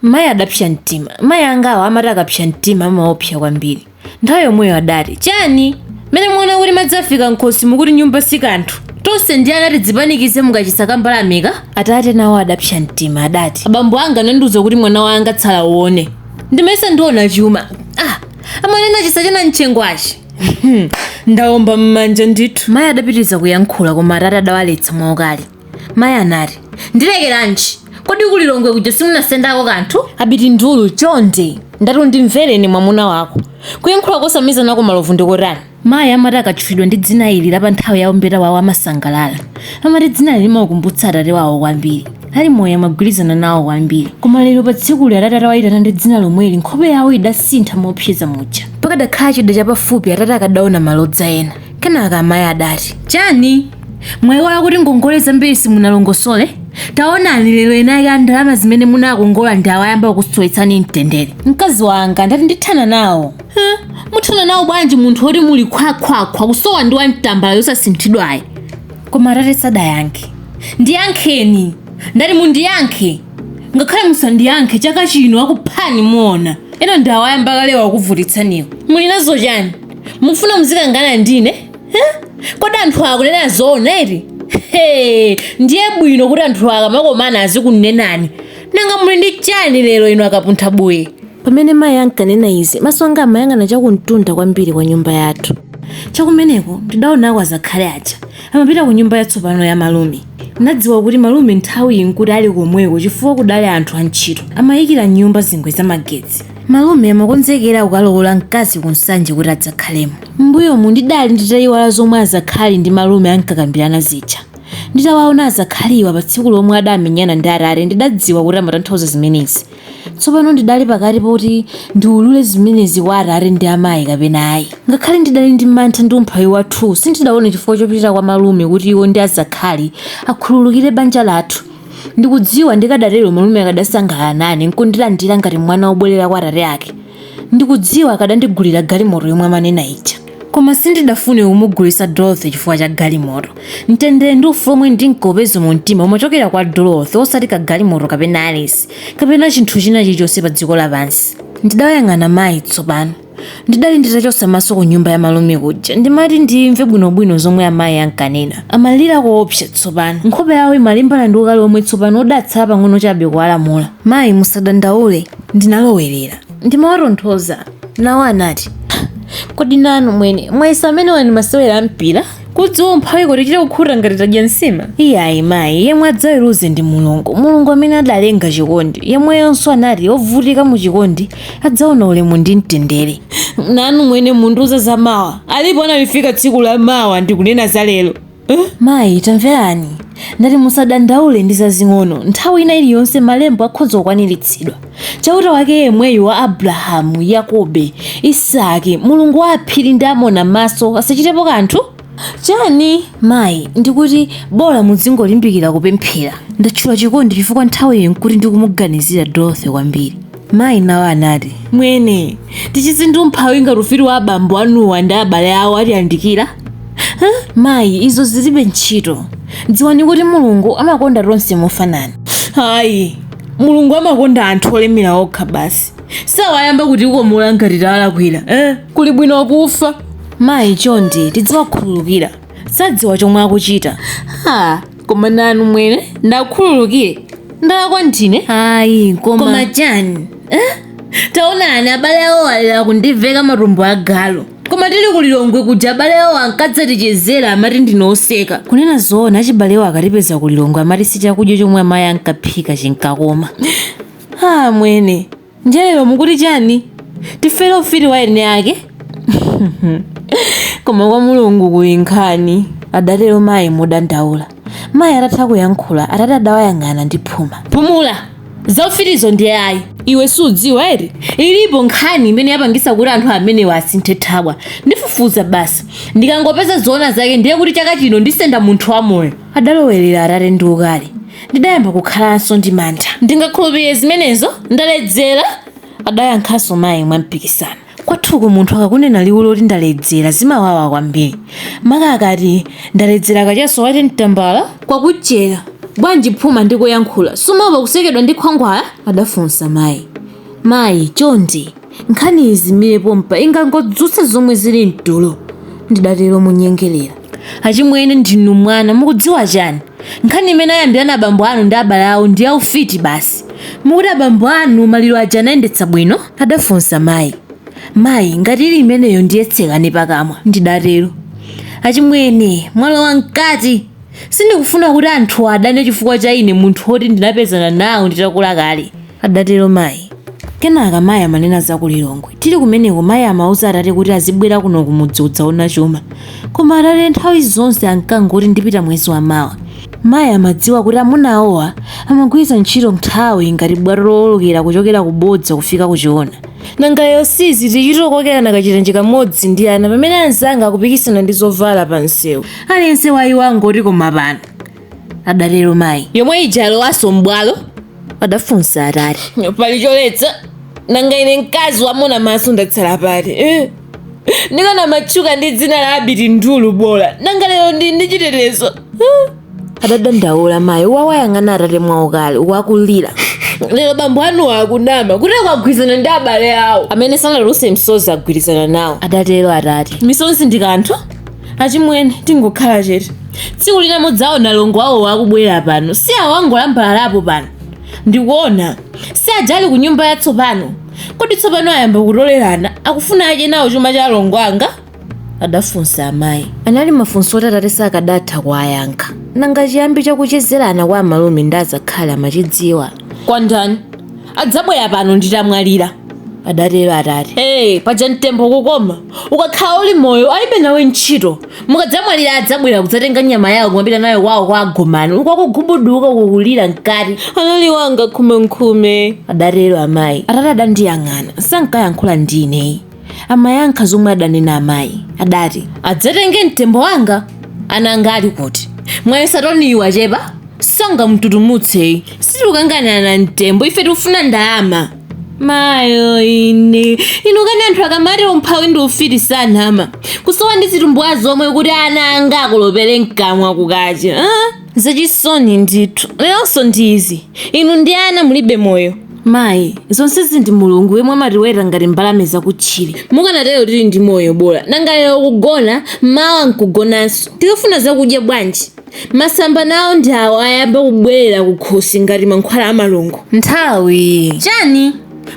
Mayi adapsa mtima. Mayi angawo amati akapsa mtima amaopsa kwambiri. Nthawi yomweyo adati, Chani? Mmene mwaona kuti madzi afika m'khosi mukuti nyumba si kanthu? Tonse ndi ana tidzipanikize mukachisa ka mbalameka? Atate nawo adapsa mtima, adati, Abambo anga anandiuza kuti mwana wanga tsala uone. Ndimayesa ndiona chuma. Ah! Amanena chisa cha namchengwachi. Ndaomba m'manja ndithu. Mayi adapitiriza kuyankhula koma atate adawaletsa mwaukali. mayi anati ndilekeranji kodi ku lilongwe kuja simunasendako kanthu abiti ndulu chonde ndati undimvereni mwamuna wako kuyankhula kosamiza nako malovu ndikotani mayi amati akatchulidwa ndi dzina ili la pa nthawi ya umbeta wawo amasangalala amati dzinali limawakumbutsa atate wawo kwambiri ali moyo amagwirizana nawo kwambiri koma lero pa tsikuli atate atawayitana ndi dzina lomweli nkhope yawo idasintha mopseza muja pakadakhala chida chapafupi atate akadaona malodza ena Kenaka amayi adati, Chani? Mwayiwala kuti ngongole zambiri simunalongosole? Taonani lero eni ake a ndalama zimene munakongola ndi awa ayamba kukusowetsani mtendere. Mkazi wanga ndati ndithana nawo. Huh? Muthana nawo bwanji munthu woti muli khwakhwakhwa kusowa ndi wamtambala yosasinthidwayi? Koma atate sadayankhe. Ndiyankheni! Ndati mundiyankhe! Ngakhale musandiyankhe chaka chino akuphani muona. Ena ndi awa ayamba kalewa akuvutitsaniwo. Muli nazo chani? mufuna muzikangana ndine Huh? kodi anthu akunena zoona eti Hey, ndiye bwino kuti anthu akamakomana azikunenani nanga muli ndi chani lero inu akapuntha buye pamene mayi ankanena izi maso anga amayang'ana chakumtunda kwambiri kwa nyumba yathu chakumeneko ndidaonako azakhali aja amapita ku nyumba yatsopano ya malume ndinadziwa kuti malume nthawi iyi nkuti ali komweko chifukwa kudali anthu antchito amayikira mnyumba zingwe za magetsi Malume amakonzekera kukalowola mkazi ku Nsanje kuti adzakhalemo. M'mbuyomu ndidali nditayiwala zomwe azakhali ndi malume ankakambirana zija. Nditawaona azakhaliwa pa tsiku lomwe adamenyana ndi atate ndidadziwa kuti amatanthauza zimenezi. Tsopano ndidali pakati poti ndiwulule zimenezi kwa atate ndi amayi kapena ayi. Ngakhale ndidali ndi mantha ndi umphawi wathuwu sindidaone chifukwa chopitira kwa malume kuti iwo ndi azakhali akhululukire banja lathu. Ndikudziwa ndikadatero malume akadasangalala nane n'kundilandira ngati mwana wobwerera kwa atate ake. Ndikudziwa akadandigulira galimoto yomwe amanena ija. Koma sindidafune kumugulitsa Dorothy chifukwa cha galimoto. Mtendere ndi ufulu womwe ndinkaupeza mumtima umachokera kwa Dorothy osati kagalimoto kapena Alice kapena chinthu china chilichonse padziko lapansi. Ndidawayang'ana mayi tsopano. Ndidali nditachotsa maso kunyumba ya malume kuja ndimati ndimve bwinobwino zomwe amayi ankanena. Amalira koopsa tsopano. Nkhope yawo imalimbana ndi ukali womwe tsopano udatsala pang'ono chabe kuwalamula. Mayi, musadandaule, ndinalowerera. Ndimawatonthoza. Nawo anati, Kodi nanu mwene mwayesa amenewa ndi masewera a mpira? kudziwa umphawi kutichita kukhuta ngati tadya nsima iyayi mayi yemwe adzaweruze ndi mulungu mulungu amene adalenga chikondi yemweyonso anati ovutika mu chikondi adzaona ulemu ndi mtendere nanu mwene mundiuza za mawa alipo analifika tsiku la mawa ndikunena za lero Eh? mayi tamverani ndati musadandaule ndi zazing'ono nthawi ina iliyonse malembo akhoza kukwaniritsidwa chauta wake yemweyu wa abrahamu yakobe isaki mulungu wa aphiri ndi Amonammaso asachitepo kanthu chani mayi ndikuti bola mudzingolimbikira kupemphera ndatchula chikondi chifukwa nthawiyi nkuti ndikumuganizira dorothy kwambiri mayi nawo anati mwene tichizi ndi umphawi ngati ufiti wa abambo anuwa ndi abale awo atiyandikira Huh? mayi izo zilibe ntchito dziwani kuti mulungu amakonda tonse mofanana ayi mulungu amakonda anthu olemera okha basi sawayamba kuti ukomola ngati tawalakwira eh? kuli bwino kufa mayi chonde tidziwakhululukira sadziwa chomwe akuchita ha koma nanu mwene ndakhululukire ndalakwa ndine ayi koma koma chani eh? taonani abale awo alera kundiveka matumbo agalu Koma tili ku Lilongwe kuja abale awo ankadzatichezera amati ndine oseka. Kunena zoona achibalewo akatipeza ku Lilongwe amati si chakudya chomwe amayi ankaphika chinkakoma. Ha amwene, ndiye lero mukuti chani? Tifere ufiti wa eni ake? Koma kwa Mulungu kuli nkhani, adatero mayi modandaula. Mayi atatha kuyankhula, atate adawayang'ana ndi phuma. Pumula! Za ufitizo ndiye ayi. Iwe sudziwa eti? Ilipo nkhani imene yapangitsa kuti anthu amenewa asinthe thabwa. Ndifufuza basi. Ndikangopeza zoona zake ndiye kuti chaka chino ndisenda munthu wamoyo. Adalowerera atate ndi ukali. Ndidayamba kukhalanso ndi mantha. Ndingakhulupirire zimenezo? Ndaledzera? Adayankhanso mayi mwampikisano. Kwathuku munthu akakunena liwu loti ndaledzera zimawawa kwambiri. Maka akati ndaledzera kachaso wati mtambala? Kwakuchera bwanji phuma ndikuyankhula, sumaopa kusekedwa ndi khwangwala? adafunsa mayi. Mayi, chonde, nkhaniyi izimire pompa ingangodzutsa zomwe zili m'tulo, ndidatero monyengerera. Achimwene ndinu mwana mukudziwa chani? Nkhani imene ayambirana abambo anu ndi abale awo ndi ya ufiti basi. Mukuti abambo anu maliro aja anayendetsa bwino? adafunsa mayi. Mayi, ngati ili imeneyo ndiye tsekani pakamwa, ndidatero. Achimwene, mwalowa mkati! Sindikufuna kuti anthu adane chifukwa cha ine munthu woti ndinapezana nawo nditakula kale. adatero mayi. Kenaka mayi amanena za ku Lilongwe. Tili kumeneko mayi amauza atate kuti azibwera kuno kumudzi kudzaona chuma. Koma atate nthawi zonse ankangoti ndipita mwezi wamawa. Mayi amadziwa kuti amuna awowa amagwiritsa ntchito nthawi ngati bwato lowolokera kuchokera ku bodza kufika ku choona. Nanga lero si izi tichita kukokerana kachitenje kamodzi ndi ana pamene anzanga akupikisana ndi zovala pamsewu? Aliyense wa iwo angoti koma pano adatero mayi yomwe ija yalowanso m'bwalo adafunsa atate pali choletsa nanga ine mkazi waamuna maso ndatsala pati eh? ndikanamatchuka ndi dzina la abiti ndulu bola nanga lero ndi ndi chitetezo eh? adadandaula mayi akuwayang'ana atate mwaukali wakulira lero bambo anuwa akunama kuti akugwirizana ndi abale awo amene sanaluse msozi agwirizana nawo adatero atate misonzi ndi kanthu achimwene tingokhala chete tsiku lina mudzaona alongo awowa akubwera pano si awo angolambalalapo pano ndikuona si aja ali ku nyumba yatsopano kodi tsopano ayamba kutolerana akufuna ache nawo chuma cha alongo anga adafunsa amayi anali mafunso oti atate sakadatha kuwayankha nanga chiyambi chakuchezerana kwa amalume ndi azakhali amachidziwa kwa ndani adzabwera pano nditamwalira adatero atate ee paja mtembo kukoma ukakhala uli moyo alibe nawe ntchito mukadzamwalira adzabwera kudzatenga nyama yawo kumapita nayo kwawo kwa agomani uku akugubuduka kukulira mkati anali wanga khumenkhume adatero amayi atate adandiyang'ana sankayankhula ndi ineyi amayankha zomwe adanena amayi adati adzatenge mtembo wanga ana anga ali kuti mwayesa toniyu wachepa sangamtutumutseyi sitikukanganirana mtembo ife tikufuna ndalama mayo ine inu kani anthu akamati umphawi ndi ufiti sanama kusowa ndi zitumbuwa zomwe kuti ana anga akolopere mkamwa kukacha ah? Zachisoni ndithu. Leronso ndi izi. Inu ndi ana mulibe moyo. Mayi, zonsezi ndi Mulungu yemwe amatiweta ngati mbalame zakutchire. Mukanatero tili ndi moyo bola. Nanga lero kugona, mawa n'kugonanso. Tikafuna zakudya bwanji? Masamba nawo ndi awo ayamba kubwerera kukhosi ngati mankhwala a malungo. Nthawi! Chani?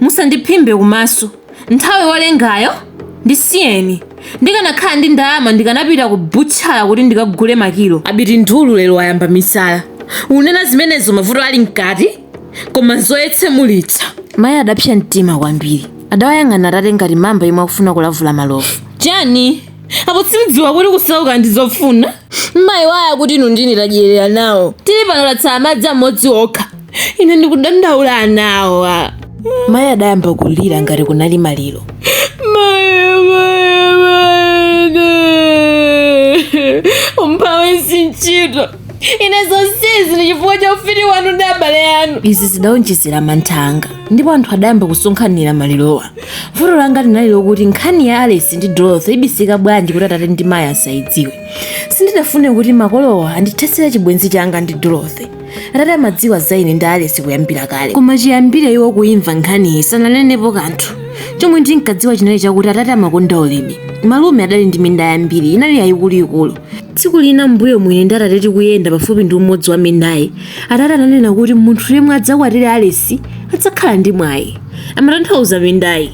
Musandiphimbe kumaso. nthawi wolengayo ndisiyeni ndikanakhala ndi ndalama ndikanapita ku butchala kuti ndikagule makilo abiti ndulu lero wayamba misala unena zimenezo mavuto ali mkati koma zoyetsemulitsa mayi adapsa mtima kwambiri adawayang'ana atate ngati mamba yemwe akufuna kulavula malovu chani apo simdziwa kuti kusauka ndi zofuna mayi waya kuti inu ndine tadyerera nawo tili pano tatsala madzi amodzi okha ine ndikudandaula anawa mayi adayamba kulira ngati kunali maliro umphawi si ntchito ine zonsezi ndi chifukwa cha ufiti wanu ndi abale anu izi zidawonjezera mantha anga ndipo anthu adayamba kusonkhanira malirowa vuto langa linali lokuti nkhani ya alice ndi dorothy ibisika bwanji kuti atate ndi mayi asayidziwe sindidafune kuti makolowa andithesere chibwenzi changa ndi dorothy atate amadziwa za ine ndi alice kuyambira kale koma chiyambire iwo kuimva nkhaniyi sananenepo kanthu chomwe ndinkadziwa chinali chakuti atate amakonda ulimi malume adali ndi minda yambiri inali yayikuluikulu tsiku lina mbuyomu ine ndi atate tikuyenda pafupi ndi umodzi wa mindayi atate ananena kuti munthu yemwe adzakwatire alice adzakhala ndi mwayi amatanthauza mindayi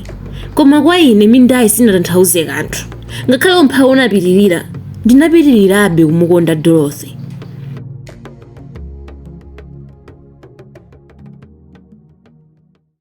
koma kwa ine mindayi sinatanthauze kanthu ngakhale umphawi unapitirira ndinapitirirabe kumukonda dorothy